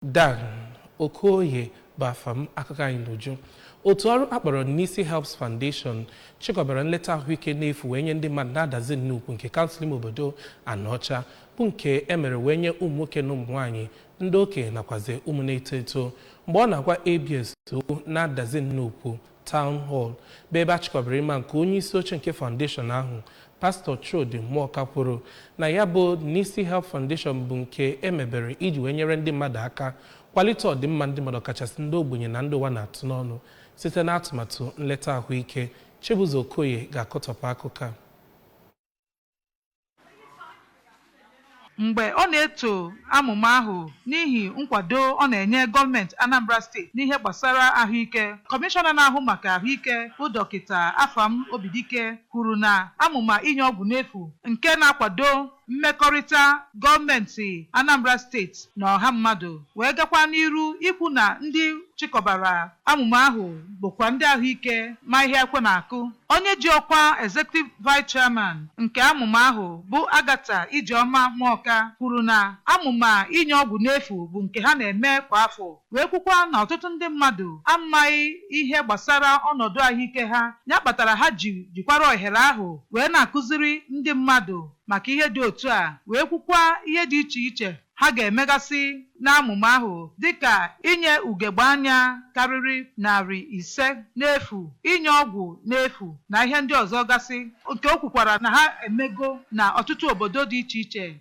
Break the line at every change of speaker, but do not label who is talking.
Dan Okoye bụ afa m akụkọ anyị n'uju otu ọrụ a kpọrọ Nissi Helps Foundation chịkọbara nleta ahụike n'efu wee nye ndị mmadụ n'Adazi Nnukwu nke kansụl ime obodo Anaọcha bụ nke e mere wee nye ụmụ nwoke na ụmụ nwaanyị ndị okenye nakwazi ụmụ na-eto eto mgbe ọ na-agwa ABS okwu n'Adazi Nnukwu Town Hall, bụ ebe a chịkọbara ịma nke onye isi oche nke foundation ahụ, Pastọ Chudi Mụọka kwuru na ya bụ Nissi Help Foundation bụ nke e mebere iji wee nyere ndị mmadụ aka kwalite ọdịmma ndị mmadụ kachasị ndị ogbenye na ndị ụwa na-atụ n'ọnụ site n'atụmatụ nleta ahụike. Chibụzọ Okoye ga-akọtọpụ akụkọ a.
mgbe ọ na-eto amụma ahụ n'ihi nkwado ọ na-enye gọọmenti Anambra steeti n'ihe gbasara ahụike kọmishọna na-ahụ maka ahụike bụ dọkịta Afam Obidike kwuru na amụma inye ọgwụ n'efu nke na-akwado mmekọrịta gọọmenti Anambra steeti na ọha mmadụ wee gakwa n'iru ikwu na ndị chịkọbara Amụma ahụ bụkwa ndị ahụike ma ihe ekwe na-akụ. Onye ji ọkwa Executive Vice Chairman nke amụma ahụ bụ Agatha Ijeọma Mụọka kwuru na amụma inye ọgwụ n'efu bụ nke ha na-eme kwa afọ wee kwukwa na ọtụtụ ndị mmadụ amaghị ihe gbasara ọnọdụ ahụike ha ya kpatara ha ji jikwara ohere ahụ wee na-akụziri ndị mmadụ maka ihe dị otu a wee kwukwa ihe dị iche iche ha ga-emegasị n'amụma ahụ dị ka inye ugegbe anya karịrị narị ise n'efu, inye ọgwụ n'efu, na ihe ndị ọzọ gasị, nke o kwukwara na ha emego n'ọtụtụ obodo dị iche iche.